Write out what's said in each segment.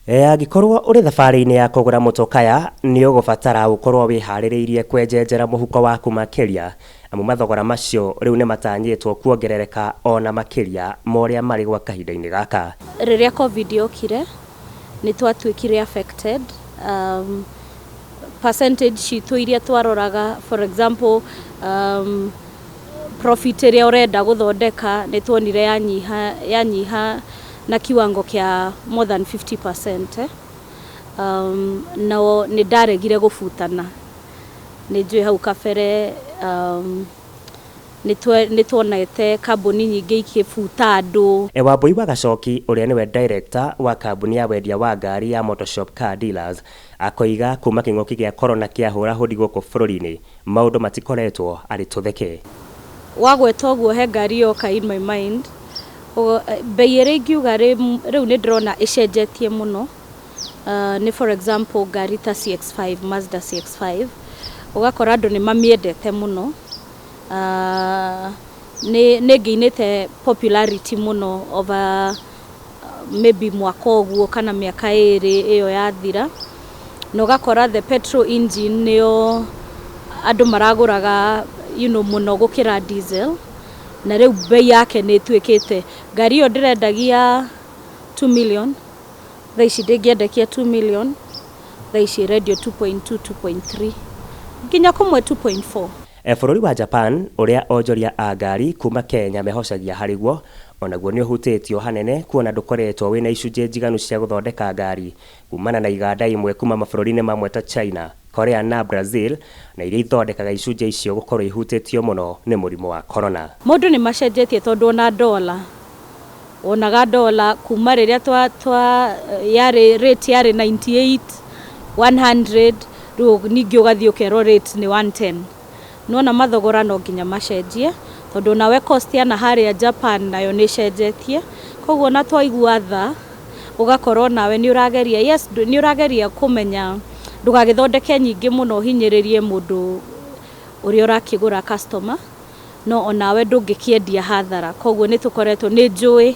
E, Angĩkorwo ũrĩ thabarĩ-inĩ ya kũgũra mũtũkaya, nĩ ũgũbatara gũkorwo wĩharĩrĩirie kwenjenjera mũhuko waku makĩria, amu mathogora macio rĩu nĩ matanyĩtwo kuongerereka o na makĩria ma ũrĩa marĩ gwa kahinda-inĩ gaka. Rĩrĩa Covid yokire nĩ twatuĩkire affected, um, percentage citũ iria twaroraga for example, um, profit ĩrĩa ũrenda gũthondeka nĩ twonire yanyiha, yanyiha na kĩwango kĩa more than 50 percent um, no nĩ ndaregire gũbutana nĩ njũĩ hau kabere um, nĩ tuonete kambuni nyingĩ ikĩbuta andũ. E Wambũi wa Gacoki ũrĩa nĩwe director wa kambuni ya wendia wa ngari ya Motoshop Car Dealers Akoiga kuuma kĩng'ũki gĩa Corona kĩahũra hũdi gũkũ bũrũri-inĩ, maũndũ matikoretwo arĩ tũtheke. Wagweta ũguo he ngari yoka in my mind, mbei ĩrĩa ingiuga rĩu nĩ ndĩrona ĩcenjetie mũno nĩ for example ngari ta CX5, Mazda CX5, ũgakora andũ nĩ mamĩendete mũno, nĩ ĩngĩinĩte popularity mũno over... maybe mwaka ũguo kana mĩaka ĩrĩ ĩyo yathira, na ũgakora the petrol engine nĩyo andũ maragũraga you know mũno gũkĩra diesel, na rĩu mbei yake nĩ ĩtuĩkĩte, ngari ĩyo ndĩrendagia two million, thaa ici ndĩngĩendekia two million, thaa ici ĩrendio two point two, two point three, nginya kũmwe two point four. E Bũrũri wa Japan, ũrĩa onjoria a ngari kuuma Kenya mehocagia harĩ guo, o naguo nĩ ũhutĩtio hanene kuona ndũkoretwo wĩ na icunjĩ njiganu cia gũthondeka ngari kuumana na iganda imwe kuuma mabũrũri-inĩ mamwe ta China, Korea na Brazil na iria ithondekaga icunjĩ icio gũkorũo ihutĩtio mũno nĩ mũrimũ wa Corona. Maũndũ nĩ macenjetie tondũ o na dollar wonaga dollar kuma rĩrĩa twa twa yarĩ rate yarĩ 98 100 rĩu ningĩ ũgathiĩ ũkerwo rate nĩ 110 nĩwona mathogora no nginya macenjie tondũ nawe cost ya na harĩa Japan nayo nĩ ĩcenjetie koguo na twaigua tha ũgakorwo nawe nĩ ũrageria yes nĩ ũrageria kũmenya ndũgagĩthondeke nyingĩ mũno ũhinyĩrĩrie mũndũ ũrĩa ũrakĩgũra customer. No o nawe ndũngĩkĩendia hathara. Kwoguo nĩ tũkoretwo, nĩ njũĩ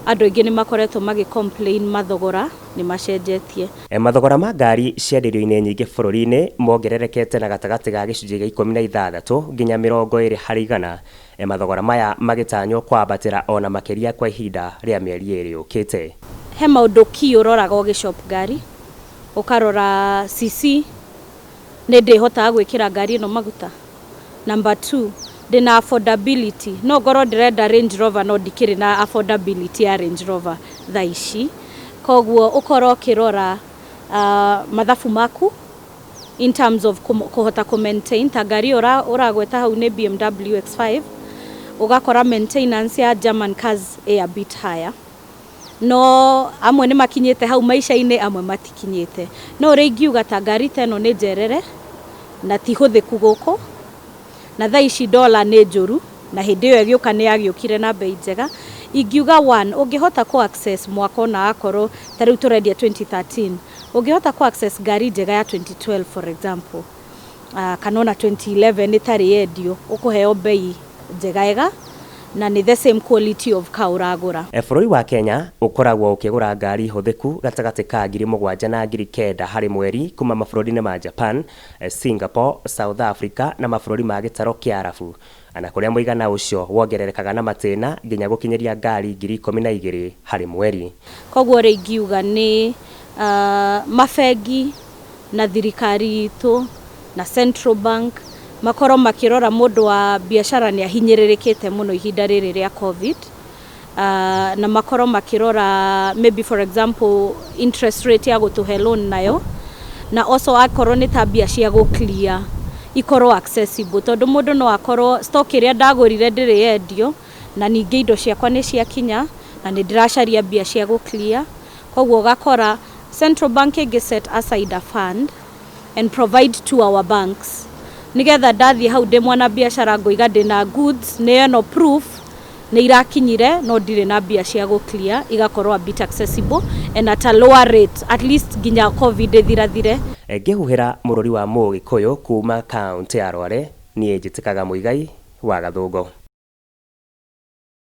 andũ aingĩ nĩ makoretwo magĩ complain mathogora nĩ macenjetie. Mathogora ma ngari cia ndĩrio-inĩ nyingĩ bũrũri-inĩ mongererekete na gatagatĩ ga gĩcunjĩ gĩa ikũmi na ithathatũ nginya mĩrongo ĩrĩ harĩ igana, mathogora maya magĩtanywo kwambatĩra o na makĩria kwa ihinda rĩa mĩeri ĩrĩ yũkĩte. He maũndũ key ũroraga ũgĩ shop ngari, ũkarora CC, Nĩ ndĩhotaga gwĩkĩra ngari ĩno maguta? Number two, ndĩ na affordability? No ngorwo ndĩrenda Range Rover no ndikĩrĩ na affordability ya Range Rover thaa ici. Kwoguo ũkorwo ũkĩrora mathabu maku in terms of kũhota kũ maintain. Ta ngari ĩyo ũragweta hau nĩ BMW X5, ũgakora maintenance ya German cars ĩĩ a bit higher. no amwe nĩ makinyĩte hau maica-inĩ, amwe matikinyĩte. No ũrĩa ingiuga ta ngari ta ĩno nĩ njerere na ti hũthĩku gũkũ, na thaa ici dollar nĩ njũru, na hĩndĩ ĩyo ĩgĩũka nĩ yagĩũkire na mbei njega. Ingiuga one, ũngĩhota kũ access mwaka o na akorwo ta rĩu tũrendia twenty thirteen, ũngĩhota kũ access ngari njega ya twenty twelve for example. ah, kana ona 2011 ĩtarĩ yendio ũkũheo mbei njegaega na nĩ the same quality of car ũragũra E, Bũrũri wa Kenya ũkoragwo ũkĩgũra ngari hũthĩku gatagatĩ ka ngiri mũgwanja na ngiri kenda harĩ mweri kuma mabũrũri-inĩ ma Japan, e, Singapore, South Africa na mabũrũri ma gĩtaro kĩa Arabu. O na kũrĩa mũigana ũcio wongererekaga na matĩna nginya gũkinyĩria ngaari ngiri ikũmi na igĩrĩ harĩ mweri. Kwoguo-rĩ, ingiuga nĩ mabengi na thirikari itũ na Central Bank makorwo makĩrora mũndũ wa biacara nĩ ahinyĩrĩrĩkĩte mũno ihinda rĩrĩ rĩa Covid. na makorwo makĩrora maybe for example interest rate ya gũtũhe loan nayo, na also akorwo nĩ ta mbia cia gũ clear ikorwo accessible, tondũ mũndũ no akorwo stock ĩrĩa ndagũrire ndĩrĩ yendio, na ningĩ indo ciakwa nĩ ciakinya, na nĩ ndĩracaria mbia cia gũ clear, koguo ũgakora Central Bank ĩngĩ set aside a fund. and provide to our banks nigetha ndathiĩ hau ndĩ mwana biashara ngoiga ndĩ na goods nĩ eno proof nĩ irakinyire no ndirĩ na mbia cia gũ clear igakorwo a bit accessible and at a lower rate at least nginya covid ĩthirathire. Ngĩhuhĩra mũrũri wa Mũgĩkũyũ kuuma kaũntĩ ya Rware, niĩ njĩtĩkaga Muigai wa Gathũngũ.